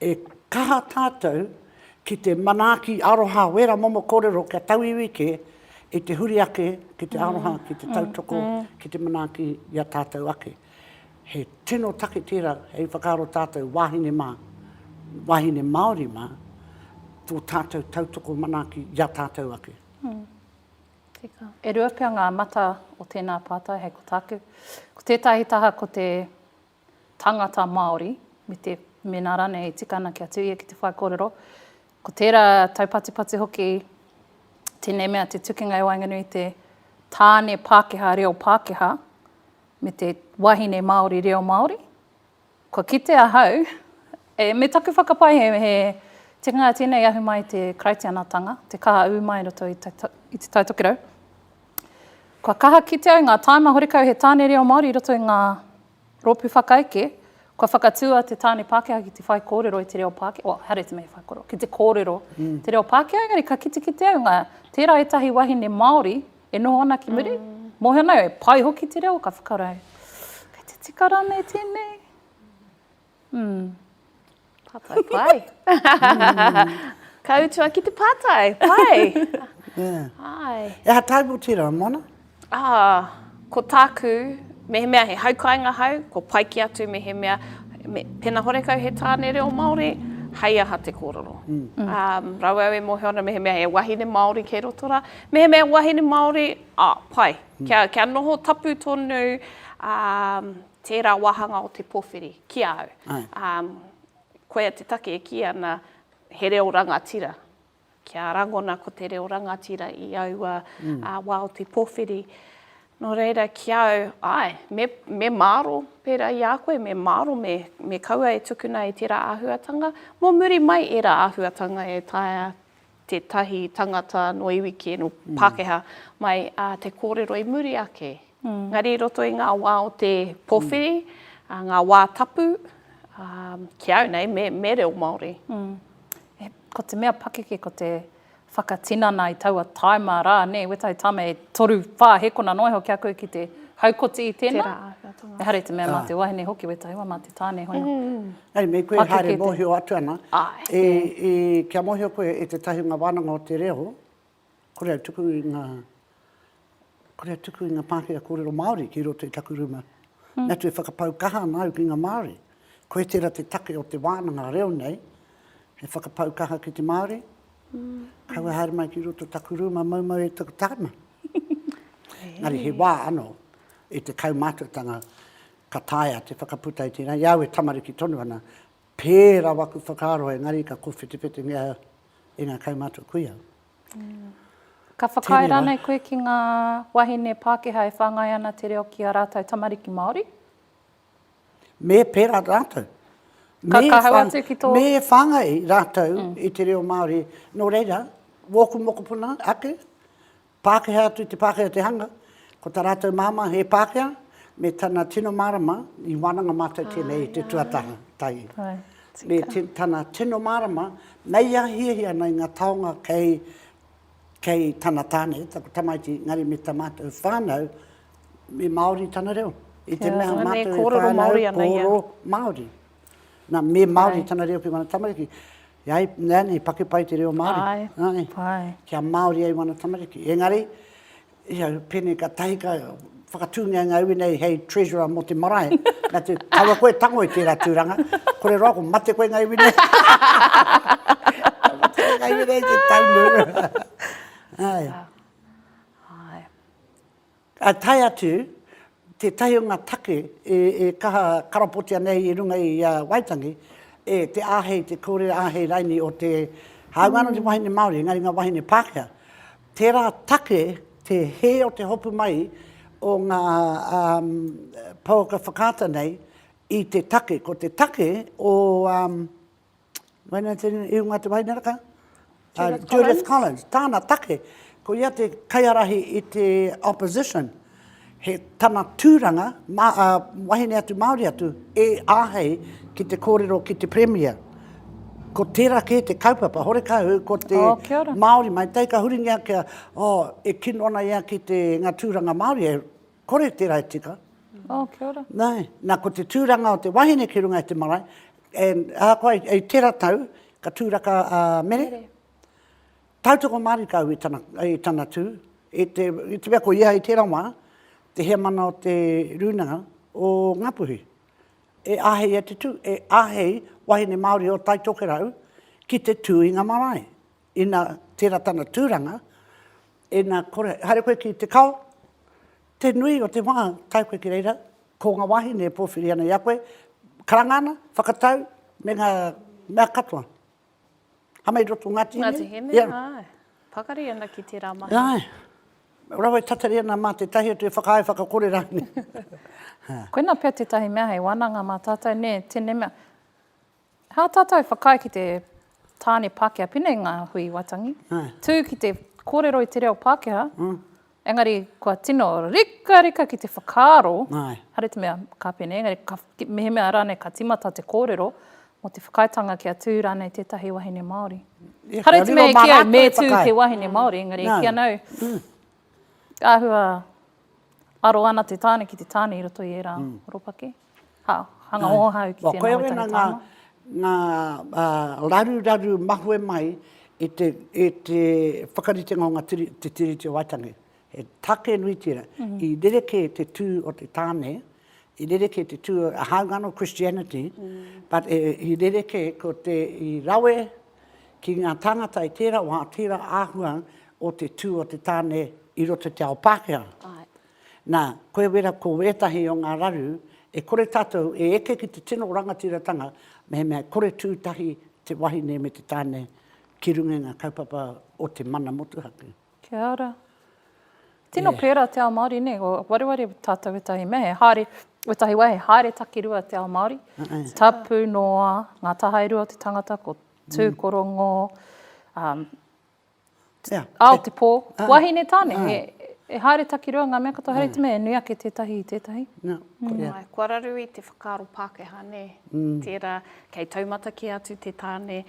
E kaha tātou ki te manaaki aroha wera momo korero kia tauiwi ke i te huri ake ki te aroha, ki te tautoko, ki te manaaki i a tātou ake. He tino take tērā hei whakaaro tātou wāhine mā, wāhine Māori mā, tō tātou tautoko manaaki i a tātou ake. Tika. E rua pea ngā mata o tēnā pātai hei ko tāku. Ko tētahi taha ko te tangata Māori, me te, mēnā rānei e tika ana kia tū ia ki te whaikōrero, ko tērā taupatipati hoki tēnei mea te tukinga i waenganui i te tāne Pākehā reo Pākehā me te wahine Māori reo Māori. Kua kite ahau, e, me taku whakapae he, he tikanga tēnei ahu mai te Karaitianatanga, te kaha ū mai roto i te, i te Taitokerau, Kua kaha kite au ngā tāima horekau he tāne reo Māori i roto i ngā rōpū whakaeke, kua whakatū a te tāne Pākehā ki te whaikōrero i te reo Pākehā, oh, haere te mea he whaikōrero, ki te kōrero mm. te reo Pākehā, engari ka kitekite au ngā tērā ētahi wahine Māori e noho ana ki muri, mm. mō hea nei, e pai hoki te reo, ka whakara ai, kei te tika rānei tēnei? Mm. Pātai pai. Ka utua ki te pātai, pai. yeah. Ai. E ha taibu tira, Mona? Ah, ko tāku, mehemea he haukainga hau, ko pai ki atu mehemea, me, pena horekau he tāne reo Māori, hei aha te kōrero. Mm. Um, rawe au e mōhio ana mehemea he wahine Māori kei roto rā. Mehemea wahine Māori, ah, pai. Mm. Kia, kia noho tapu tonu, um, Tērā wāhanga o te pōwhiri ki a au. Koia te take e kī ana, he reo rangatira. Kia rangona ko te reo rangatira i aua wā o te pōwhiri. Nō reira, ki a au, āe, me māro, pērā i a koe, me māro me kaua e tukuna e tērā āhuatanga, mō muri mai ērā āhuatanga e taea tētahi tangata no iwi kē, no Pākehā, mai a te kōrero i muri ake. Engari i roto i ngā wā o te pōwhiri, ngā wā tapu, ki au nei, me, me reo Māori. Ko te mea pakeke ko te whakatinana i taua taima rā, nē, wētahi tāma e toru, whā hekona noa iho ki a koe ki te haukoti i tēnā. Tērā āhuatanga. Ehara i te mea mā te wahine hoki wētahi wā, mā te tāne hono. Hei, me koe haere mōhio atu ana, kia mōhio koe e te tahunga wānanga o te reo, kore au tuku i ngā, kore au tuku i ngā pākehā kōrero Māori ki roto i taku rūma. Me atu e whakapau kaha ana au ki ngā Māori. Koe tērā te take o te wānanga reo nei, he whakapau kaha ki te Māori, kaua haere mai ki roto taku rūma maumau e taku tāima. Engari he wā anō, i te kaumātuatanga, Ka taea te whakaputa i tēnā, i a au e tamariki tonu ana, pērā waku whakaaro engari ka kōwhetewhetengia e ngā kaumātua kuia. Ka whakaae rānei koe ki ngā wahine Pākehā e whāngai ana te reo ki a rātou tamariki Māori? Me pērā rātou. Ka kahau atu ki tō... Me whāngai rātou i te reo Māori. Nō reira, wōku mokopuna ake, Pākehā atu te Pākehā te hanga, ko tā rātou māmā he Pākehā, me tana tino mārama, i wānanga mātou tēnei i te tuataha, tahi. Me tana tino mārama, mei a hiahia ana i ngā taonga kei, kei tana tāne, taku tamaiti, engari me tā mātou whānau, me Māori tana reo. I te mea mātou e whānau, kōrero Māori. Nā, me Māori tana reo ki ngā tamariki. Ia e, nani, paki pai te reo Māori. Ae, nani, pai. Kia Māori ai wana tamariki. Engari, ia, pēnei ka tahi ka whakatūngia ngā iwi nei hei treasurer mō te marae. Nā te, kawa koe tango i tērā tūranga. Kore roa ko mate koe ngā iwi nei. ngā iwi nei te taunu. Ae. Ae. Ka tae atu tētahi o ngā take e kaha karapotia nei i runga i a Waitangi, e te āhei, te kōrero āhei raini o te, hāunga anō te wahine Māori, engari ngā wāhine Pākehā. Tērā take te hē o te hopu mai o ngā pouaka whakaata nei i te take. Ko te take o Wainaitene Irunga Te Waineraka, a Judith Collins, tāna take, ko ia te kaiarahi i te opposition, he tana tūranga, ma, a, wahine atu Māori atu, e āhei ki te kōrero ki te Premier. Ko tērā kē te kaupapa, horekau ko te oh, Māori mai, tei ka huringia kia, oh, e kino ana ia ki te, ngā tūranga Māori, e kore te rae tika. Oh, kia ora. Nā, nā, ko te tūranga o te wahine ki runga i te marae, and ahakoa i, i tera tau, ka tūraka a uh, mere. mere. Tautoko marika au i tana, i tana tū, i te, i te mea ko ia i tera wā, te heamana o te rūnanga o Ngapuhi. E ahei e te tū, e ahei wahine Māori o Taitokerau ki te tū i ngā marae. Ina tera tana turanga, ina kore, haere koe ki te kao, te nui o te wa tae koe ki reira, ko nga wahine e powhiri ana i a koe, karanga ana, whakatau, me nga mea katoa. Hama i roto o Ngati Hine. Ngati Hine, ae. Pakari ana ki tera mahi. Ae. Rawa e tatari ana ma tetahi atu e whakaae whakakore ranei. Koina pea tetahi mea hei wananga ma tatou ne, tene mea, Hā tātou whakaae ki te tāne Pākehā, pēnei ngā hui i Waitangi, tū ki te kōrero i te reo Pākehā, engari kua tino rikarika ki te whakaaro, haere te mea ka pēnei, engari ka, mehemea rānei ka tīmata te kōrero, mō te whakaaetanga kia tū rānei tētahi wahine Māori. Haere te mea e kī au, me tū te wahine Māori, engari e kī ana au, ka āhua aro ana te tāne ki te tāne i roto i ērā horopaki. Ha, hanga oha au ki tēnā wai tahi tāma. Koia wena ngā, ngā raruraru mahue mai i te, i te whakaritenga o ngā Tiri, te Tiriti o Waitangi. He take nui tērā. I rerekē te tū o te tāne, i rerekē te tū, hāunga anō Christianity, but i rerekē ko te, i rawe ki ngā tāngata i tērā wā, tērā āhua o te tū o te tāne i roto i te ao Pākehā. Nā, koe wera ko ētahi o ngā raru, e kore tātou e eke ki te tino rangatiratanga mehemea e kore tū tahi te wahine me te tāne ki runga i ngā kaupapa o te mana motuhake. Kia ora. Tino pērā te ao Māori, nē, ko wareware tātou ētahi mea, he haere, ētahi wā he haere takirua te ao Māori, tapu noa ngā tahae rua o te tangata, ko Tūkorongo, Ao te pō. Wahine tāne, e haere takirua ngā mea katoa, haere te mea e nui ake tētahi i tētahi. Nā, koia. Kua raru i te whakaaro Pākehā, nē, tērā, kei taumata kē atu te tāne,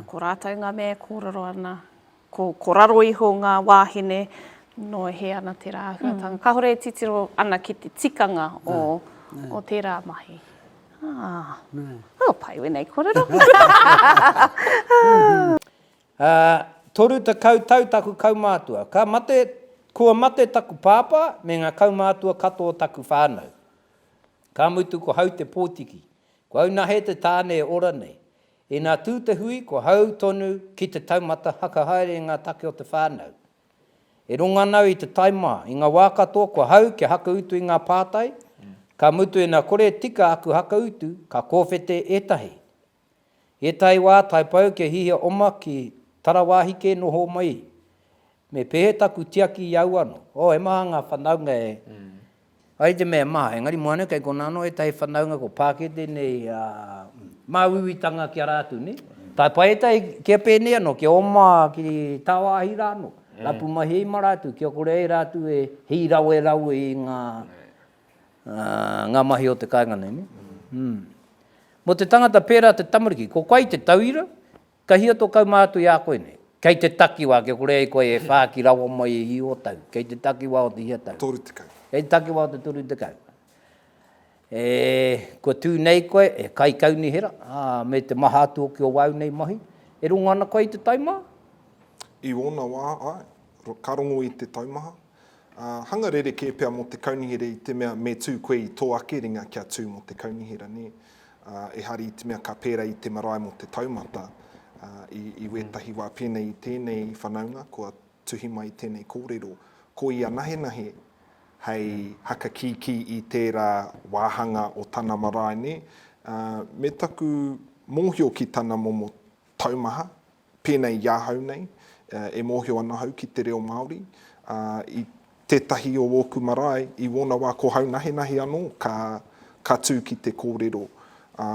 ko rātou ngā mea e kōrero ana, ko raro iho ngā wāhine, nō hē ana tērā āhuatanga. Kāore e titiro ana ki te tikanga o tērā mahi. Ā, kua pai wēnei kōrero. Ā, toru tekau tau taku kaumātua, ka mate, kua mate taku pāpā me ngā kaumātua katoa o taku whānau. Ka mutu ko Hautepōtiki, ko Aunahe te tāne e ora nei. Inā tū te hui, ko hau tonu ki te taumata haka haere i ngā take o te whānau. E rongo ana au i te tae mā, i ngā wā katoa kua hau kia haka utu i ngā pātai, ka mutu ina kore e tika aku haka utu, ka kōwhete ētahi. I ētahi wā taipau kia hihia oma ki tarawāhi kē noho mai, me pēhea taku tiaki i au anō? Oh, he maha ngā whanaunga e. Ai te mea e maha, engari moa nei kei konā anō ētahi whanaunga kua pākete nei a māuiuitanga ki a rātou, nē? Taipai ētahi kia pēnei anō, kia oma ki tāwāhi rā anō, rapu mahi ai mā rātou kia kore ai rātou e hīrawerawe i ngā. Ngā mahi o te kāinga nei, nē? Mō te tangata pērā te tamariki, ko koe te tauira, ka hia tō kaumā atu i a koe nei? Kei te takiwā, kia kore ai koe e whāki rawa mai e hī o tau, kei te takiwā o te hia tau? Toru tekau. Kei te takiwā o te toru tekau. E, kua tū nei koe, e kaikaunihera, ā, me te maha atu hoki o āu nei mahi, e rongo ana koe i te taumaha? I ōna wā, āe. Ka rongo i te taumaha. Ā, hanga rerekē pea mō te kaunihera i te mea me tū koe i tō ake ringa kia tū mō te kaunihera, nē? Ā, ehara i te mea ka pērā i te marae mō te taumata, ā, i, i wētahi wā pēnei i tēnei whanaunga kua tuhi mai tēnei kōrero, ko ia nahenahe hei hakakīkī i tērā wāhanga o tana marae, nē? Ā, me taku mōhio ki tana momo taumaha, Pēnei i ahau nei, e mōhio ana ahau ki te reo Māori, ā, i tētahi o ōku marae, i wōna wā ko haunahenahe anō ka, ka tū ki te kōrero. Ā,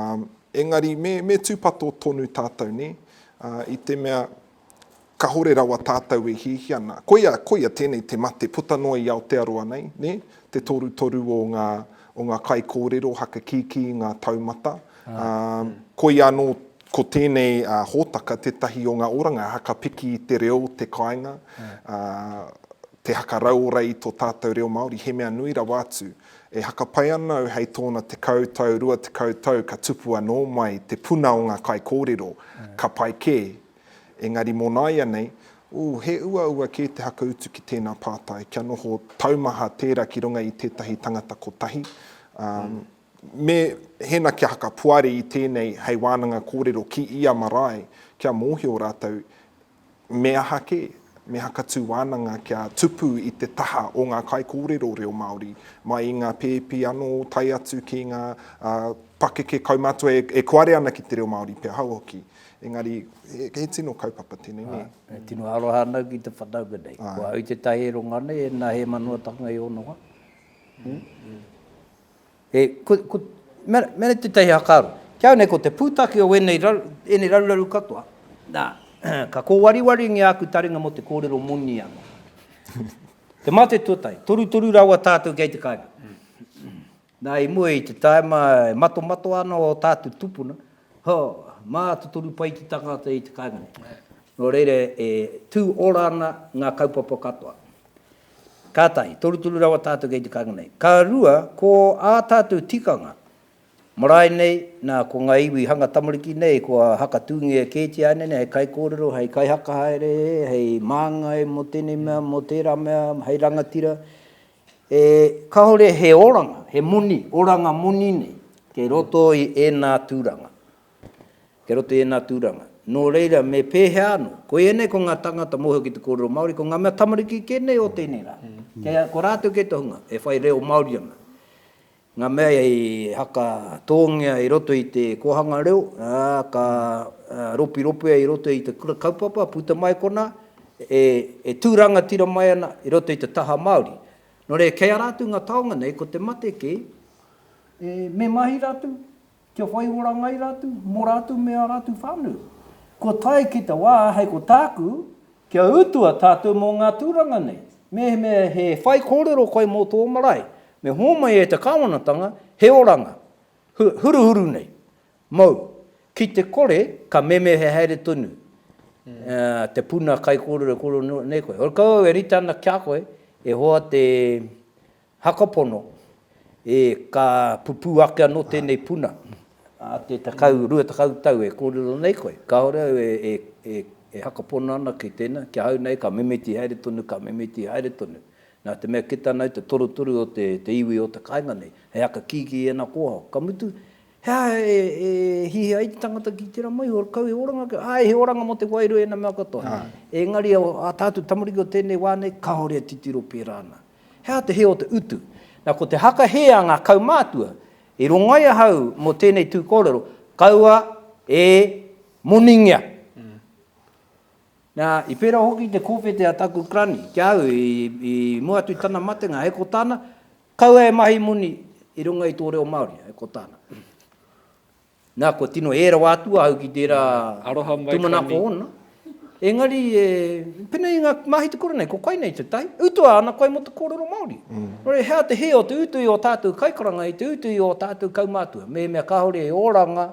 engari me, me tūpato tonu tātou, nē? Ā, i te mea, kāore rawa tātou e hiahia ana. Koia, koia tēnei te mate puta noa i Aotearoa nei, nē? Te torutoru o ngā, o ngā kaikōrero hakakīkī i ngā taumata, ā, koia anō Ko tēnei hōtaka tētahi o ngā oranga haka piki i te reo, te kāinga, te haka rauora i tō tātou reo Māori, he mea nui rawa atu. E haka pai ana au hei tōna tekau tau, rua tekau tau ka tupu anō mai te puna o ngā kaikōrero, ka pai kē. Engari mō nāianei, ū, he uaua kē te haka utu ki tēnā pātai, kia noho taumaha tērā ki runga i tētahi tangata kotahi, ā, Me hēna kia hakapoari i tēnei hei wānanga kōrero ki ia marae kia mōhio rātou me aha kē, me hakatū wānanga kia tupu i te taha o ngā kaikōrero reo Māori, mai i ngā pēpi anō tae atu ki ngā pakeke kaumātua e kuare ana ki te reo Māori pea hau hoki. Engari, he tino kaupapa tēnei, nē? E tino aroha ana ki te whanaunga nei. Ko au i te taheronga nei, e nā Hēmanoatanga i ono ai. He, ko, ko, mea, mea tētahi hakaaro. Ki au nei, ko te pūtake o ēnei, raru, ēnei raruraru katoa, nā, ka kōwariwaringia āku taringa mō te kōrero moni anō. Te mate tuatahi, torutoru rawa tātou kei te kāinga. Nā, i mua i te tāima e matomato ana o tātou tupuna, ho, mā te toru pai te tangata i te kāinga nei. Nō reira, e tū ora ana ngā kaupapa katoa. Ka tahi, toruturu rawa tātou kei te kāinga nei. Ka rua, ko ā tātou tikanga, marae nei, nā, ko ngā iwi hanga tamariki nei, kua hakatūngia kētia ānei nei hei kaikōrero, hei kaihaka haere, hei māngai mō tēnei mea, mō tērā mea, hei rangatira, e, kāore he oranga, he moni, oranga moni nei, kei roto i ēnā tūranga. Kei roto i ēnā tūranga. Nō reira, me pēhea anō? Ko ēnei ko ngā tāngata mōhio ki te kōrero Māori, ko ngā mea tamariki kē nei o tēnei rā. Kei a, ko rātou kei te hunga, e whai reo Māori ana. Ngā mea i haka tōngia i roto i te kōhanga reo, ā, ka ropiropia i roto i te kura kaupapa, puta mai konā, e, e tū rangatira mai ana i roto i te taha Māori. Nō reira, kei a rātou ngā taonga nei, ko te mate kē, e, me mahi rātou? Kia whai ora ngai ratu, mo ratu me a ratu whanu. Kua tae ki te wa hei ko taku, kia utua tatou mo nga turanga nei. Mehemea he whai korero koe mo to marae, me homai e te kawanatanga he oranga, huruhuru nei. Mou, ki te kore ka meme he haere tonu te puna kaikorero korero nei koe. Ora kau au e rite ana kia koe, e hoa te Hakapono, E, ka pupū ake anō tēnei puna, ā, te tekau, rua tekau tau e kōrero nei koe, kāore au e, e, e, e hakapono ana ki tēnā, ki ahau nei ka mimiti haere tonu, ka mimiti haere tonu. Nā te mea kite ana au te torutoru o te, te iwi o te kāinga nei, hei aka kīkī ēnā kōhao. Ka mutu, he aha e, e hihi ai te tangata ki tērā maihi, ora kau he oranga kē, āe, he oranga mō te wairua ēnā mea katoa. Engari ā tātou tamariki o tēnei wā nei, kāore e titiro pērā ana. He aha te hē o te utu? Na, ko te haka hē a ngā kaumātua, i rongai ahau mō tēnei tū kōrero, kaua e moningia. Na, i pērā hoki te kōwhete a taku granny ki a au i, i mua atu i tana matenga, hei ko tāna, kaua e mahi moni i runga i tō reo Māori, hei ko tāna. Nā, kua tino ē rawa atu ahau ki tērā tūmanako ōna. Engari, e, pēnei i ngā mahi te kura nei, ko koinei te tahi. Utua ana koe mō te kōrero Māori. Nō reira, he aha te hē o te utu i ō tātou kaikaranga, i te utu i ō tātou kaumātua? Mehemea kāore e oranga,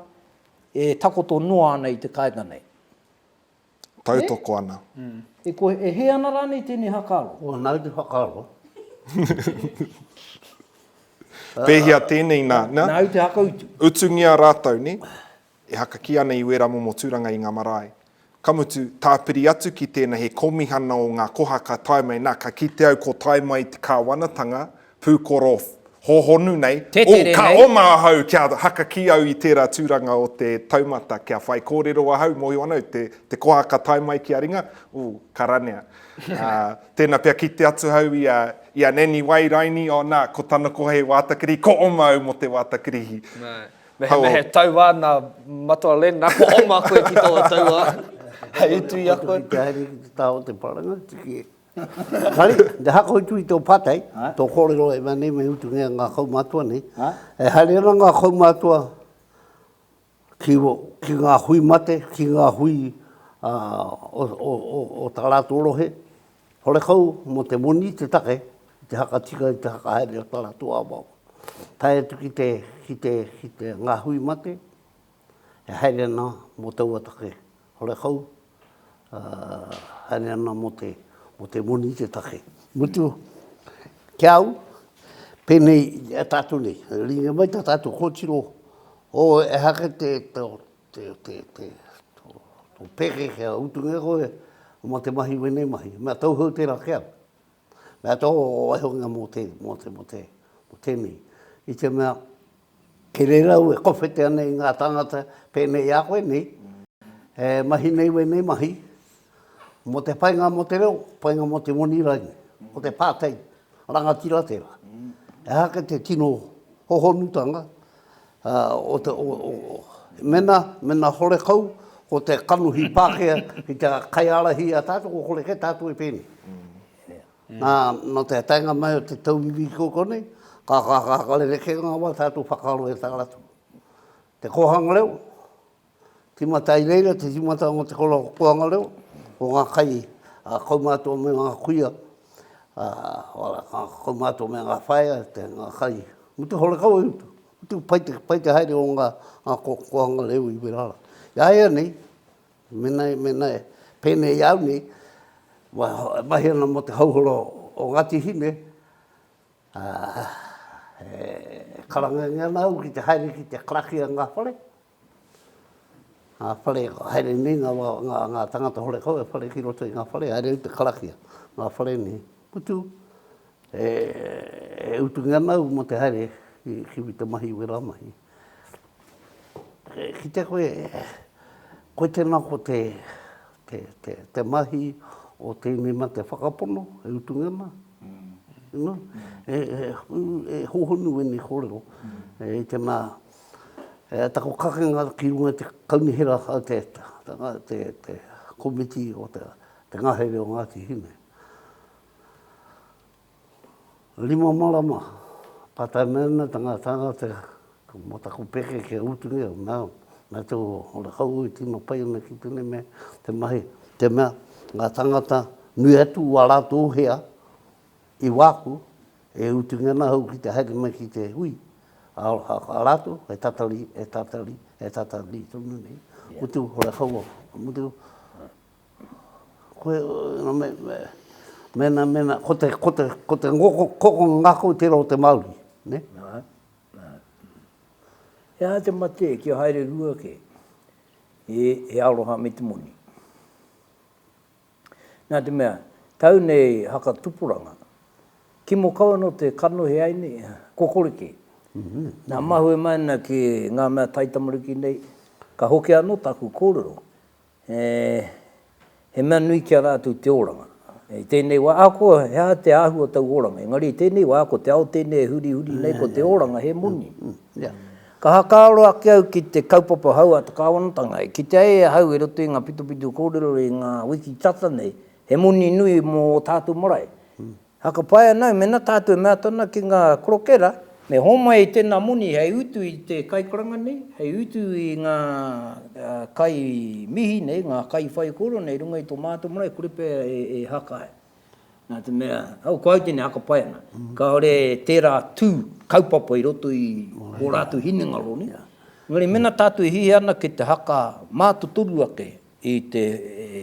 e takoto noa ana i te kāinga nei. tautoko ana. E koe, e hē ana rānei tēnei hakaaro? Ō, nāu te whakaaro. Pēhea tēnei nā, nā? Nāu te hakautu. Utungia rātou, nē? E haka kī ana i wērā momo tūranga i ngā marae. Ka mutu, tāpiri atu ki tēnā he kōmihana o ngā koha ka tae mai, nā, ka kite au ko tae mai te kāwanatanga, pūkoro hōhonu nei, ū, ka oma ahau kia haka ki au i tērā tūranga o te taumata, kia whaikōrero ahau, mōhio ana au te koha ka tae mai ki a ringa, ū, ka ranea. Ā, tēnā pea kite atu ahau i a, i a Nanny Wairaini, ō nā, ko tana koha he wātakirihi, ko oma au mō te wātakirihi. Mehemea he tauā nā Matua Len, nā, ko oma koe ki taua tauā, hei utu i a koe. Ka haere ki te taha o te wharangatiki. Tari, te hako i tui tō pātai, tō kōrero e mea nei me utungia ngā kaumātua nei. E haere ana ngā kaumātua ki ki ngā hui mate, ki ngā hui o tā rātou rohe, horekau mō te moni te take i te hakatika, i te whakahaere o tā rātou awaawa. Tae atu ki te, ki te, ki te, ngā hui mate. e haere ana mō taua take horekau, ā, haere ana mō te, mō te moni te take. Mutu, ki a au, pēnei i a tātou nei, e rīngia mai tā tātou kōtiro, ō, ehake te, te, te, te, te, tō, tō pēke kia utungia koe mō te mahi wēnei mahi, mea tauhou tērā ki au. Mea tō waihokinga mō te, mō te, mō te, mō tēnei. I te mea, e reira au e kowhete ana i ngā tāngata pēnei a koe nei, e mahi nei wēnei mahi, mō te painga mō te reo, painga mō te moni rānei, mō te pātai, rangatira tērā. E aha kē te tino hohonutanga, Ā, o te, o, o, mena, mena horekau, ko te kanohi Pākehā ki te kaiārahi i a tātou, ko kore kē tātou e pēnei. Nā, nō te taenga mai o te tauiwi kua kua nei, ka, ka, ka, ka rerekē ngā wā tātou whakaaro e tā rātou. Te kōhanga reo, Tīmata i reira te tīmata mō te kōrero puanga reo, mō ngā kai a kaumātua me ngā kuia, a kaumātua me ngā whaea, ngā kai. Me te horekau e utu, utu pai te, pai te haere o ngā koanga reo i wera ara. Iāianei, mena, mena pēnei i au nei, e mahi ana mō te hauhora o Ngāti Hine, e karangangia ana au ki te haere ki te karakia ngā whare, Ngā whare, haere nei ngā wā, ngā, ngā tangata horekau e whare ki roto i ngā whare, haere au te karakia, ngā whare nei. Mutu, e, e utungia ana au mō te haere ki, ki Wita Mahi i wērā mahi. E, kitea koe, koe tēnā ko te, te, te, te mahi o tēnei mea te whakapono e utungia ana, you know, e, e, e, e hohonu ēnei kōrero, e, i tēnā, He tako kakenga ki runga i te kaunihera a te komiti o te ngahere o Ngāti Hine. Rima marama ka tae mai ana te ngā tāngata mō taku pēke ki a Utungia, nā te ora hou i tino pai ana ki tēnei mea, te mahi, te mea, ngā tāngata nui atu wā rātou hea, I wāku, e utu nge ana hau ki te haere mai ki te hui, a ratou e tatari, e tatari, e tatari tonu nei, mutu hore kaua, mutu koe, mena, mena, ko te, ko te, ko te ngoko, koko ngako tera o te Maori, ne? Nā, nā. He aha te mate kia haere rua ke, he, he aroha me te moni. Nā te mea, tau nei haka tupuranga, kimo kau anō te kanohi ai nei, kokoriki. Nā, mahue mai ana ki ngā mea taitamariki nei, ka hoki anō tāku kōrero, he mea nui ki a rātou te oranga. I tēnei wā, ahakoa he aha te āhua o tau oranga, engari i tēnei wā, ko te ao tēnei e hurihuri nei, ko te oranga he moni. Ka whakaaro ake au ki te kaupapa hou a te kāwanatanga e kitea ai e ahau i roto i ngā pitopito kōrero i ngā wiki tata nei, he moni nui mō ō tātou marae. Whakapae ana au mēnā tātou e mea atu ana ki ngā korokera, me hōmai i tēnā moni hei utu i te kaikoranga nei, hei utu i ngā kai mihi nei, ngā kai whaikōrero nei i runga i tō mātou marae, kore pea e haka ai. Nā te mea, au ko au tēnei haka pai ana, kāore tērā tū kaupapa i roto i ō rātou hinengaro nei. Engari mēnā tātou e hīhē ana ki te haka mātotoru ake i te,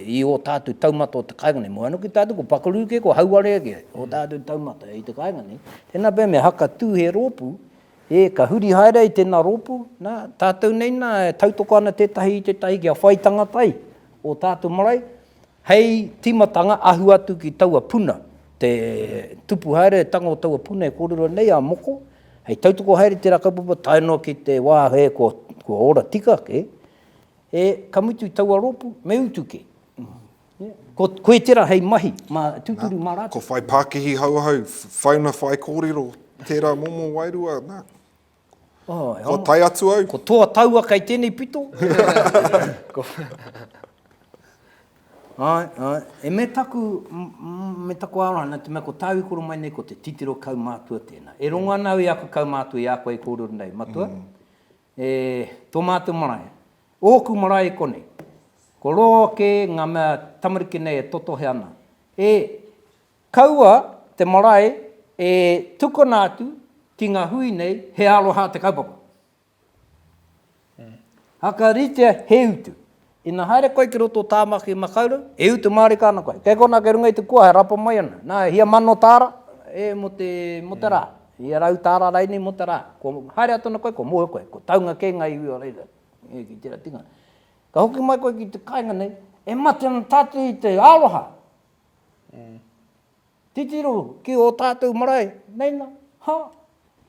i ō tātou taumata o te kāinga nei, moe ana ki tātou, ko pakaru kē, ko hauwarea kē ō tātou taumata i te kāinga nei, tēnā pea me haka tū he rōpū, ē, ka huri haere ai tēnā rōpū, nā, tātou nei nā e tautoko ana tētahi i tētahi kia whai tangata ai ō tātou marae, Hei tīmatanga, ahu atu ki taua puna, te tupu haere, te tanga o taua puna e kōrero nei, a Moko, hei tautoko haere i tērā kaupapa tae noa ki te wā hē kua ora tika kē, e, ka mutu i taua rōpū, me utu kē. Ko, koe tērā hei mahi, mā, tūturu mā rātou. Ko whai pākihi hou ahau, whauna whaikōrero, tērā momo wairua, nā. Kua tae atu au. Ko toa taua kei tenei pito. Ae, ae. E me taku, me taku arohana, te mea ko tāu i koro mai nei ko te titiro kaumātua tēnā. E rongo ana au i aku kaumātua, i a koe e kōrero nei, matua, e tō mātou marae, ōku marae i konei, ko roa kē ngā mea tamariki nei e totohe ana, e, Kaua te marae e tukuna atu ki ngā hui nei he aroha te kaupapa. Whakaritea he utu. Ina haere koe ki roto o Tāmaki Makaurau, e utu mārika ana koe. Kei konā kei runga i te kua e rapa mai ana. Nā, e hia mano tāra e mō te, mō te rā. Hia rau tāra rainei mō te rā. Kua haere atu ana koe, kua moe koe. Kua taunga kē ngā iwi o reira e ki tērā tinga. Ka hoki mai koe ki te kāinga nei, e mate ana tātou i te aroha. Titiro ki ō tātou marae, nei nā, ha,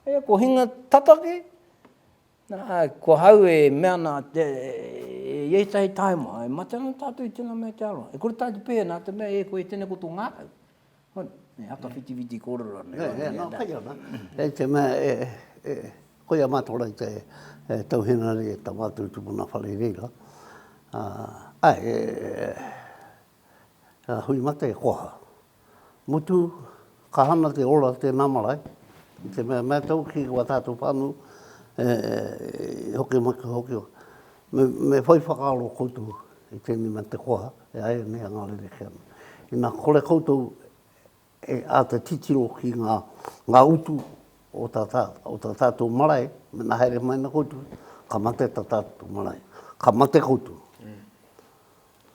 e, ko hinga tata kē, nā, ko hau e mea nā, e, i ētahi taima, e mate ana tātou i tēnā mea te aroha. E kore tātou pēhea nā te mea, e, koe e tēnei ko tō ngākau. Hoi, e haka whitiwhiti kōrero ana. Nē, nē, nā, kai ana. Hei te mea, e, e, koia a mātou rau te, e, tau henare, tā mātou tupuna whare reira. Ā, āe, e, e. Hui mate e koha. Mutu, ka hana te ora tēnā marae, i te mea mea tau ki wā tātou whānau e hoki mai ka hoki. Me whai whakaaro koutou i tēnei mea te koha e ai nei a ngā rerekē. Inā kore koutou e āta titiro ki ngā utu o tā tātou marae, mena haere mai ana koutou, ka mate tā tātou marae. Ka mate koutou.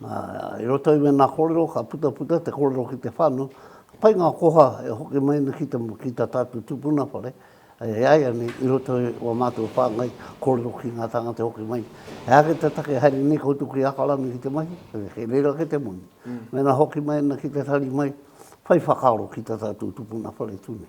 I roto i wēnā kōrero ka putaputa te kōrero ki te whānau, pai ngā koha e hoki mai ana ki tā tātou tūpuna whare, e ai ana i roto i wā mātou whāngai kōrero ki ngā tāngata e hoki mai. He aha ki te take haere nei koutou ki Ākarana ki te mahi, kei reira ake te moni. Mēnā hoki mai ana ki te tari mai, whai whakaaro ki tā tātou tūpuna whare tū nei.